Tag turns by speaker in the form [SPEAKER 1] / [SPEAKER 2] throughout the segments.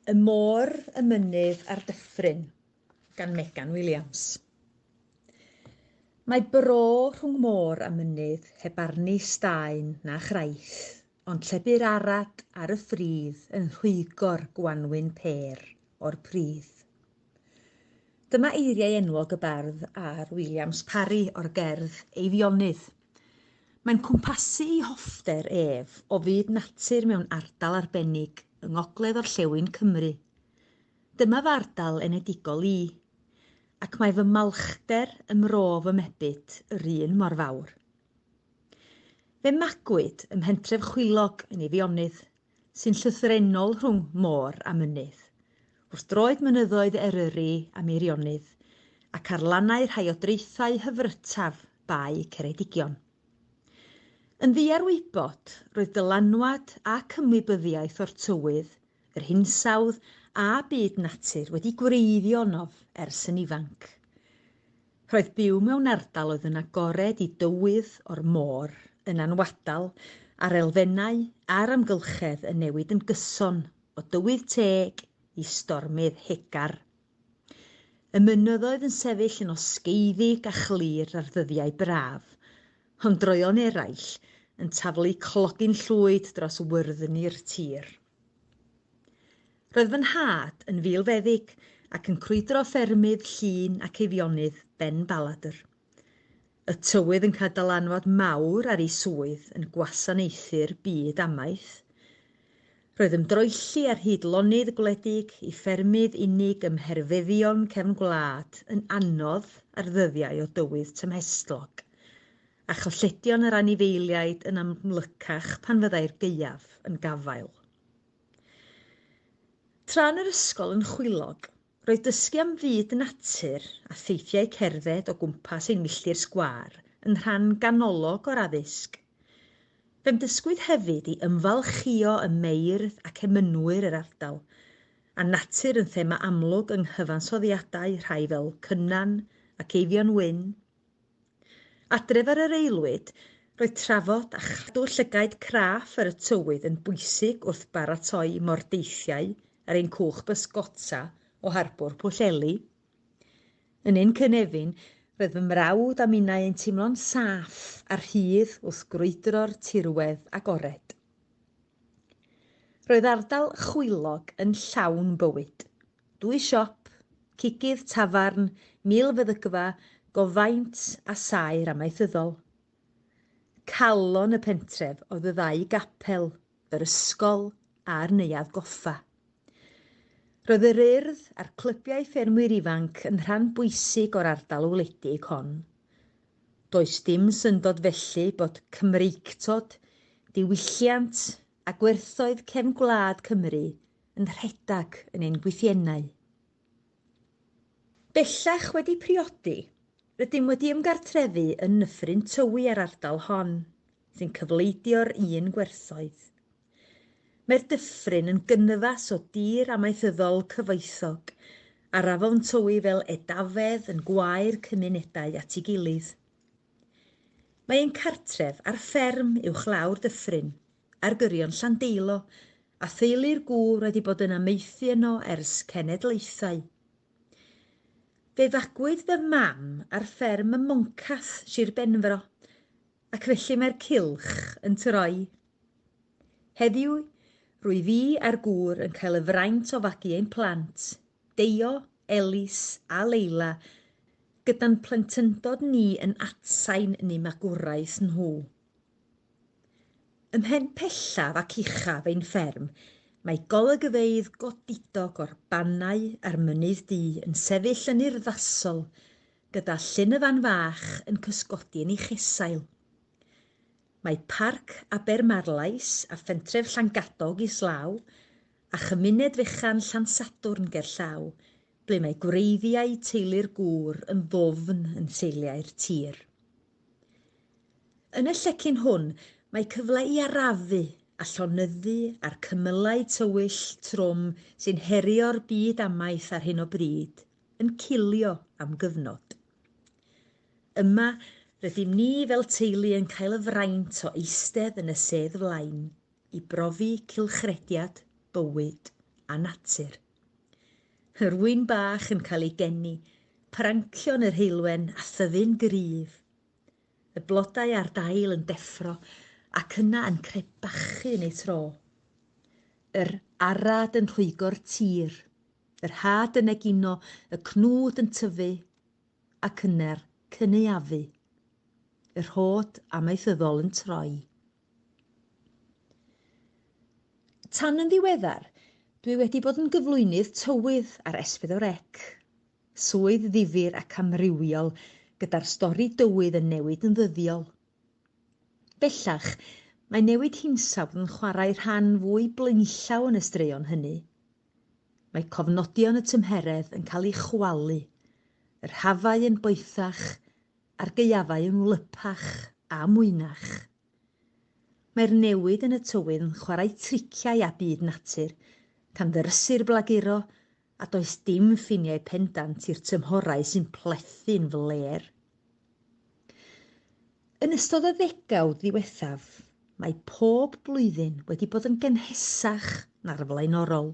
[SPEAKER 1] Y Môr, y Mynydd a'r Dyffryn gan Megan Williams Mae bro rhwng môr a mynydd heb arni staen na chraith, ond lle bu'r arad ar y ffridd yn rhwygo'r gwanwyn pêr o'r pridd. Dyma eiriau enwog y bardd a'r Williams Parry o'r gerdd Eifionydd. Mae'n cwmpasu ei hoffter ef o fyd natur mewn ardal arbennig yng ngogledd-orllewin Cymru. Dyma fy ardal enedigol i, ac mae fy malchder ym mro fy mebyd yr un mor fawr. Fe magwyd ym mhentref Chwilog yn Eifionydd, sy'n llythrennol rhwng môr a mynydd, wrth droed mynyddoedd Eryri a Meirionnydd, ac ar lannau rhai o draethau hyfrytaf Bae Ceredigion. Yn ddiarwybod, roedd dylanwad ac ymwybyddiaeth o'r tywydd, yr hinsawdd a byd natur wedi gwreiddio ynof ers yn ifanc. Roedd byw mewn ardal oedd yn agored i dywydd o'r môr yn anwadal a'r elfennau a'r amgylchedd yn newid yn gyson o dywydd teg i stormydd hegar. Y mynyddoedd yn sefyll yn osgeiddig a chlir ar ddyddiau braf, ond droeon eraill yn taflu clogyn llwyd dros wyrddni'r tir. Roedd fy nhad yn filfeddyg ac yn crwydro ffermydd Llŷn ac Eifionydd Ben Baladr. Y tywydd yn cael dylanwad mawr ar ei swydd yn gwasanaethu'r byd amaeth. Roedd ymdroelli ar hyd lonydd gwledig i ffermydd unig ym mherfeddion cefn gwlad yn anodd ar ddyddiau o dywydd tymhestlog, a chylledion yr anifeiliaid yn amlycach pan fyddai'r gaeaf yn gafael. Tra yn yr ysgol yn Chwilog, Roedd dysgu am fyd natur a theithiau cerdded o gwmpas ein milltir sgwâr yn rhan ganolog o'r addysg. Fe'm dysgwyd hefyd i ymfalchïo ym meirdd ac emynwyr yr ardal, a natur yn thema amlwg yng nghyfansoddiadau rhai fel Cynan ac Eifion Wyn. Adref ar yr aelwyd, roedd trafod a chadw llygaid craff ar y tywydd yn bwysig wrth baratoi mordeithiau ar ein cwch bysgota o harbwr Pwllheli. Yn ein cynefin, roedd fy mrawd a minnau yn teimlo'n saff a rhydd wrth grwydro'r tirwedd agored. Roedd ardal Chwilog yn llawn bywyd. Dwy siop, cigydd, tafarn, milfeddygfa, gofaint a saer amaethyddol. Calon y pentref oedd y ddau gapel yr ysgol a'r Neuadd Goffa. Roedd yr Urdd a'r clybiau ffermwyr ifanc yn rhan bwysig o'r ardal wledig hon. Does dim syndod felly bod Cymreictod, diwylliant a gwerthoedd cefn gwlad Cymru yn rhedeg yn ein gwythiennau. Bellach wedi priodi, rydym wedi ymgartrefu yn Nyffryn Tywi a'r ardal hon, sy'n cyfleidio'r un gwerthoedd. Mae'r dyffryn yn gynnyfas o dir amaethyddol cyfoethog, a'r afon Tywi fel edafedd yn gwae'r cymunedau at ei gilydd. Mae ein cartref ar fferm uwchlaw'r dyffryn, ar gyrion Llandeilo, a theulu'r gŵr wedi bod yn amaethu yno ers cenedlaethau. Fe fagwyd fy mam ar fferm ym Moncath, Sir Benfro, Ac felly mae'r cylch yn troi. Heddiw, rwyf i a'r gŵr yn cael y fraint o fagu ein plant, Deio, Elis a Leila, gyda'n plentyndod ni yn atsain yn eu magwraeth nhw. Ym mhen pellaf ac uchaf ein fferm, mae golygfeydd godidog o'r bannau a'r mynydd du yn sefyll yn urddasol gyda llyn y fan fach yn cysgodi yn ei chesail. Mae Parc Abermarlais a Phentref Llangadog islaw, a chymuned fechan Llansadwrn gerllaw, ble mae gwreiddiau teulu'r gŵr yn ddwfn yn seiliau'r tir. Yn y llecyn hwn, mae cyfle i arafu a llonyddu a'r cymylau tywyll trwm sy'n herio'r byd amaeth ar hyn o bryd, yn cilio am gyfnod. Yma, rydym ni fel teulu yn cael y fraint o eistedd yn y sedd flaen i brofi cylchrediad, bywyd a natur. Yr ŵyn bach yn cael ei geni, prancion yr heulwen a thyfu'n gryf Y blodau a'r dail yn deffro ac yna yn crebachu yn eu tro. Yr arad yn rhwygo'r tir, yr had yn egino, y cnwd yn tyfu ac yna'r cynaeafu. Y rhod amaethyddol yn troi. Tan yn ddiweddar, dwi wedi bod yn gyflwynydd tywydd ar S4C. Swydd ddifyr ac amrywiol gyda'r stori dywydd yn newid yn ddyddiol. Bellach, mae newid hinsawdd yn chwarae rhan fwy blaenllaw yn y straeon hynny. Mae cofnodion y tymheredd yn cael eu chwalu, yr hafau yn boethach a'r gaeafau yn wlypach a mwynach. Mae'r newid yn y tywydd yn chwarae triciau â byd natur, canfyrysu'r blaguro A does dim ffiniau pendant i'r tymhorau sy'n plethu'n flêr. Yn ystod y ddegawd ddiwethaf, mae pob blwyddyn wedi bod yn gynhesach na'r flaenorol.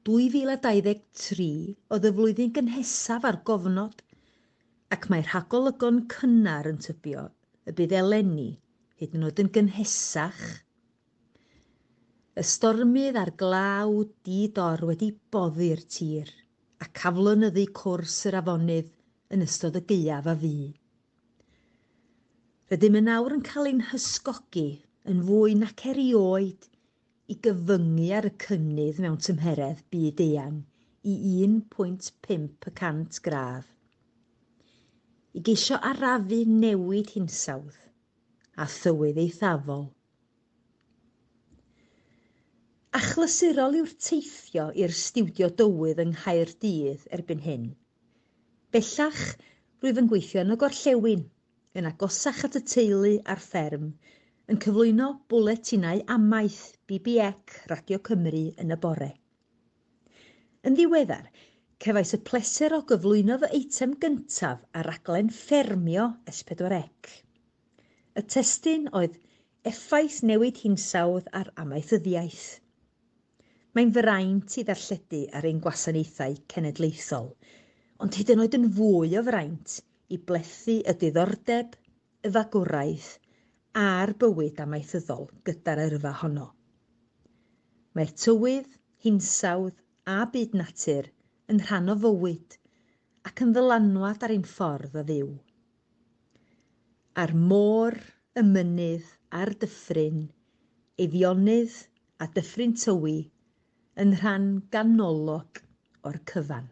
[SPEAKER 1] 2023 oedd y flwyddyn gynhesaf ar gofnod, ac mae rhagolygon cynnar yn tybio y bydd eleni hyd yn oed yn gynhesach Y stormydd a'r glaw di-dor wedi boddi'r tir ac aflonyddu cwrs yr afonydd yn ystod y gaeaf a fu. Rydym yn awr yn cael ein hysgogi yn fwy nac erioed i gyfyngu ar y cynnydd mewn tymheredd byd-eang i 1.5 y cant gradd, i geisio arafu newid hinsawdd. a thywydd eithafol. Achlysurol yw'r teithio i'r stiwdio dywydd yng Nghaerdydd erbyn hyn. Bellach, rwyf yn gweithio yn y gorllewin, yn agosach at y teulu a'r fferm, yn cyflwyno bwletinau amaeth BBEC Radio Cymru yn y bore. Yn ddiweddar, cefais y pleser o gyflwyno fy eitem gyntaf ar raglen Ffermio S4C. Y testun oedd Effaith Newid Hinsawdd ar Amaethyddiaeth. Mae'n fraint i ddarlledu ar ein gwasanaethau cenedlaethol, ond hyd yn oed yn fwy o fraint i blethu y diddordeb y fagwraeth a'r bywyd amaethyddol gyda'r yrfa honno. Mae'r tywydd, hinsawdd a byd natur yn rhan o fywyd ac yn ddylanwad ar ein ffordd o fyw. A'r môr, y mynydd a'r dyffryn, Eifionydd a Dyffryn Tywi, yn rhan ganolog o'r cyfan.